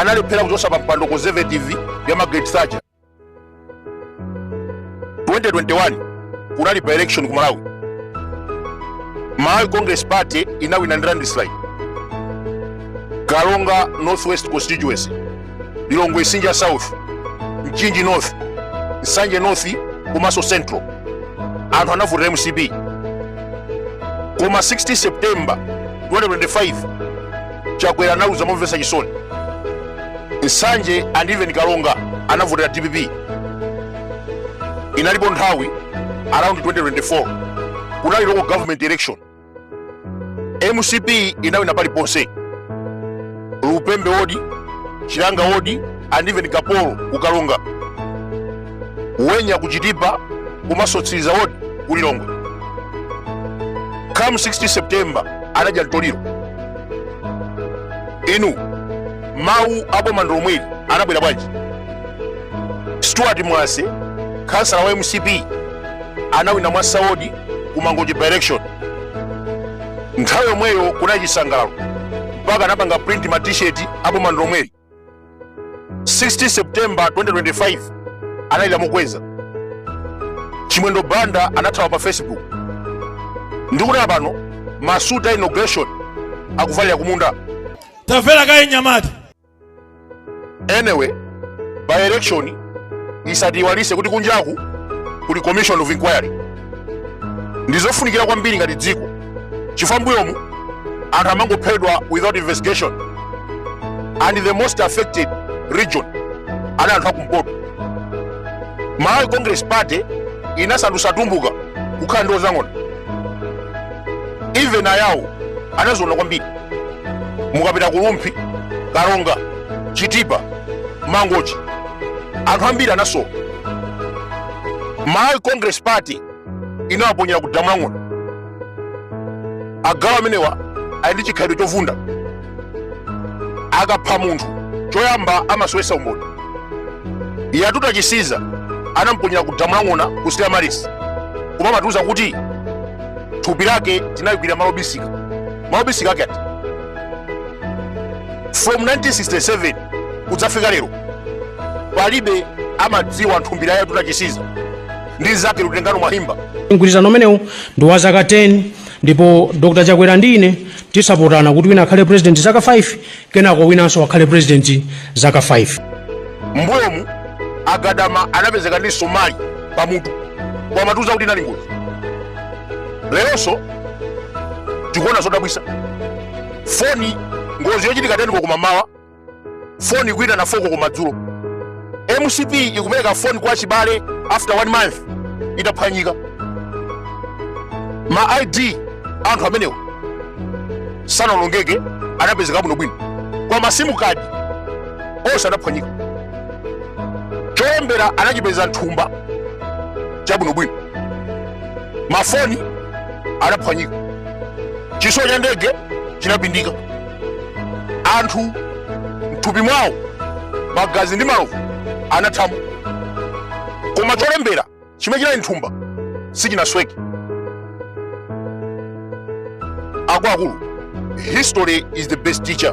analephera kuchotsa pa mpando conservative ya margaret thatcher 2021 kunali by-election ku malawi malawi congress party inawina ndi landslide karonga northwest constituency lilongwe msinja south mchinji north nsanje north komanso central anthu anavotera mcp koma 16 september 2025 chakwera analuza momvetsa chisoni nsanje and even karonga anavotera dpp inalipo nthawi around 2024 kunali local government election mcp inawina paliponse lupembe wodi chilanga wodi and even kaporo ku karonga wenya ku chitipa komanso mtsiliza wodi ku lilongwe come 16 september anadya mtoliro inu mawu a boma ndi lomweli anabwera bwanji stuart mwase khansala wa mcp anawina mwasa wodi ku mangochi by-election nthawi yomweyo kunali chisangalalo mpaka anapanga print ma t-shirt a boma ndi lomweli 16 september 2025 analira mokweza chimwendo banda anathawa pa facebook ndikunena pano masuti a inauguration akuvalira kumunda tamvera kaye mnyamata anyway by-election isatiiwalitse kuti kunjaku kuli commission of inquiry ndizofunikira kwambiri ngati dziko chifukwa mbuyomu anthu amangophedwa without investigation and the most affected region anali anthu akumpoto malawi congress party inasandutsa atumbuka kukhala ndiwo za ng'ona even ayawo anaziona kwambiri mukapita ku rumphi karonga chitipa mangochi anthu ambiri anasowa malawi congress party inawaponyera ku damu la ng'ona agalu amenewa ali ndi chikhalidwe chovunda akapha munthu choyamba amasowetsa umboni yatuta chisiza anamponyera ku damu la ng'ona ku stella maris koma amatiuza kuti thupi lake tinalikwirira malo obisika malo obisika ake ati from 1967 kudzafika lero palibe amadziwa nthumbira ya yatuta chisiza ndi mzake lutengano mwahimba mgwirizano umenewu ndi wa zaka 10 ndipo dr chakwera ndi ine tisapotana kuti wina akhale president zaka 5 kenako winanso akhale president zaka 5 mbuyomu agadama anapezeka ndi somali pamutu nkumatiuza kuti inali ngozi leronso tikuona zodabwisa foni ngozi yochitika teni koloko mmamawa foni kuitana foko kumadzulo mcp ikupereka foni kwa chibale after one month itaphwanyika ma id anthu amenewa sanalongeke anapezeka bwino bwino koma masimu kadi onse anaphwanyika cholembera anachipeza nthumba chabwino bwino mafoni anaphwanyika chitsulo cha ndege chinapindika anthu mthupi mwawo magazi ndi malovu anathamo koma cholembera chimene chinali nthumba sichinasweke akuluakulu history is the best teacher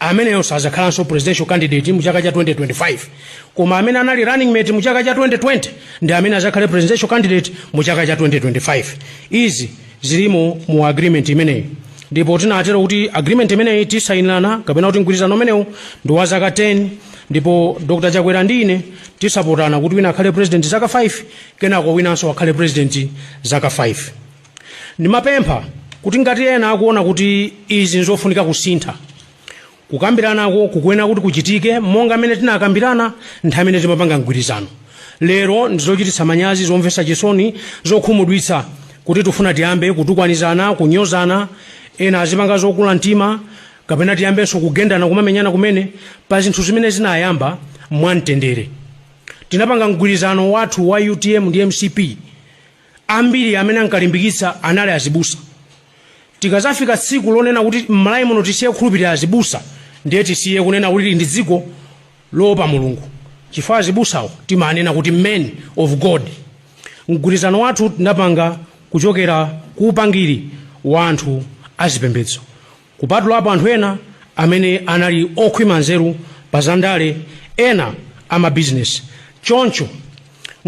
ameneyo sazakhalanso presidential candidate mu chaka cha 2025 koma amene anali running mate mu chaka cha 2020 ndi amene azakhale presidential candidate mu chaka cha 2025 izi zilimo mu agreement imeneyi ndipo tinatero kuti agreement imeneyi tasayinirana kapena kuti mgwirizano umenewu ndi wa zaka 10 ndipo dr chakwera ndi ine tizasapotana kuti wina akhale president zaka 5 kenako winanso akhale president zaka 5 Ndimapempha kuti ngati ena akuona kuti izi nzofunika kusintha, kukambiranako kukuyenera kuti kuchitike monga mmene tinakambirana nthawi imene timapanga mgwirizano. Lero ndi zochititsa manyazi, zomvetsa chisoni, zokhumudwitsa kuti tifuna tiyambe kutukwanizana, kunyozana, ena azipanga zokula mtima kapena tiyambenso kugendana, kumamenyana kumene pa zinthu zimene zinayamba mwamtendere. Tinapanga mgwirizano wathu wa utm ndi mcp. Ambiri amene ankalimbikitsa anali azibusa. Tikazafika tsiku lonena kuti m'Malawi muno tisiye kukhulupirira azibusa ndiye tisiye kunena kuti tili ndi dziko loopa Mulungu chifukwa azibusawo timanena kuti men of God. Mgwirizano wathu tinapanga kuchokera ku upangiri wa anthu azipembedzo. Kupatulapo anthu ena amene anali okhwima nzeru pa zandale, ena amabizinesi. Choncho,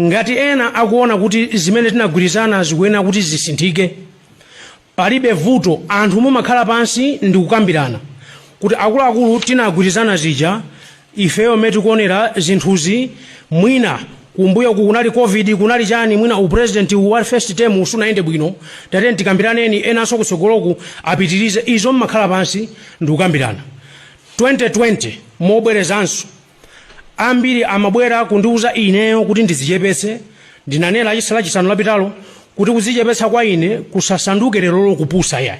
ngati ena akuona kuti zimene tinagwirizana zikuyenera kuti zisinthike, palibe vuto, anthu mumakhala pansi ndi kukambirana kuti akuluakulu tinagwirizana zija Ifeyo mmene tikuonera zinthuzi mwina kumbuyoku kunali Covid kunali chani mwina u president uwu wa first term uwu sunayende bwino tatiyeni tikambiraneni enanso kutsogoloku apitirize izo mmakhala pansi ndikukambirana 2020 mobwerezanso ambiri amabwera kundiuza ineyo kuti ndidzichepetse ndinanena lachisa lachisanu lapitalo kuti kudzichepetsa kwa ine kusasanduke lerolo kupusa iyayi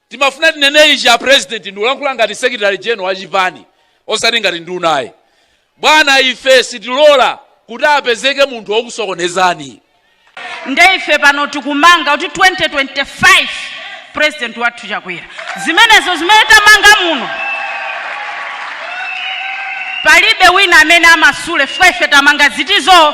Timafuna tinene ichi a president ndikulankhula ngati secretary general wa chipani osati ngati nduna ayi. Bwana ife sitilora kuti apezeke munthu wokusokonezani. Nde ife pano tikumanga kuti 2025 president wathu Chakwera. Zimenezo zimene tamanga muno palibe wina amene amasule chifukwa ife tamanga zitizoo.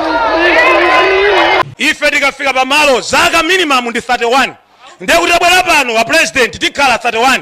ife tikafika pamalo zaka minimum ndi 31 ndiye kuti tabwera pano a president tikhala 31